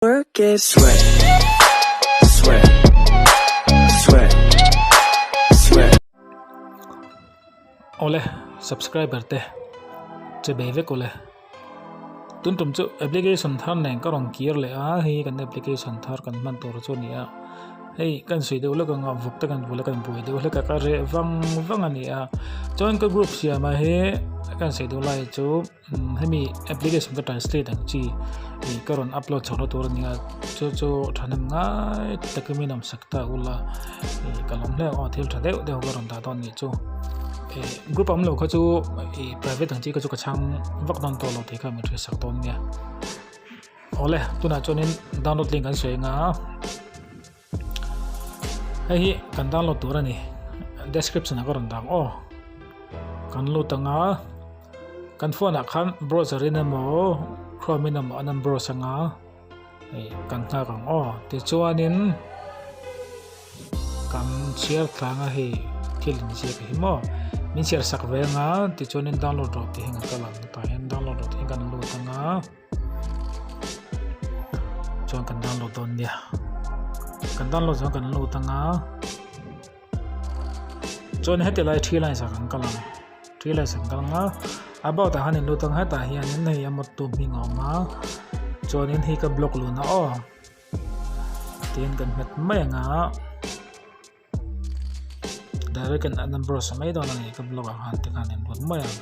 Work it. Sweat, sweat, sweat, sweat. Awle subscriber te che be vek awle tun tum chu application thar nen ka rawn kir leh a hei hi kan application thar kan hman tur chu nia hei kan sawi deuh lawk anga vuk te kan bula kan buai deuh hlek a ka reh vang vang a nia chuan ka group siam ah hi kan sawi deuh lai chu Hemi application ka translate ang chi ih ka rawn upload chhoh na tur a nia chu chu thahnem ngai takin min awm sak ta ula ih ka lawm hle aw thil tha deuh deuh ka rawn dah dawn nih chu ih group awmlo kha chu ih private ang chi kha chu ka chhang vak dawn tawh lo tih kha min hria sak dawn nia awle tunah chuanin download link kan sawi anga. Hei hi kan download tur a ni description ah ka rawn dah ang aw kan lut ang a kan phone ah khan browser in emaw chrome in emaw an rawn browse ang a hei kan nghak ang aw tichuanin kan chhiar thlang a hei thil inziak hi maw min chhiar sak ve ang a tichuanin download reh tih hi kan download reh tih hi kan lut ang a. chuan kan download dawn nia kan download chuan kan lut anga chuan heti lai three lines kan kal ang three lines kan kal anga about ah hianin lut ang hetah hianin hei amawt tu hming a awm a chuanin hei ka block luna aw tin kan nghet mai anga. direct an number a sawi mai dawn a ni ka block ah khan te khan a en rawt mai ang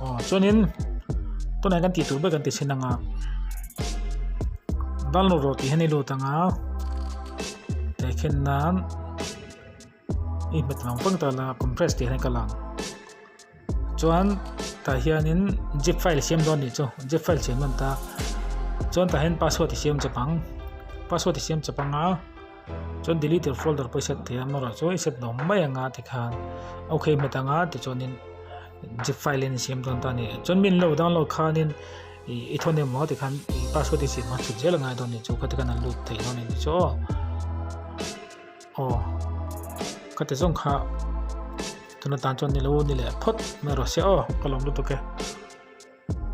aw chuanin tunah kan tih tur ber kan ti sin anga download rawh tih hian i lut anga tei khen nan I hmet ang pang ta la compress tih hian ka la chuan tah hianin zip file siam dawn nih chu zip file siam dawn ta chuan tah hian password i siam chep ang password i siam chep ang a chuan deleted folder pawh i set thei a amaherawhchu chu i set lawm mai anga tikhan ok hmet anga tichuanin zip file in i siam dawn ta ni chuan min lo download khanin i i thawn em maw tikhan password i siam a chhun zel a ngai dawn nih chu khati khan a lut thei dawn a ni chu aw. Aw ka ti zawng kha tuna tan chuan nilo nileh phawt mai rawh sia aw ka lawm lutuk e.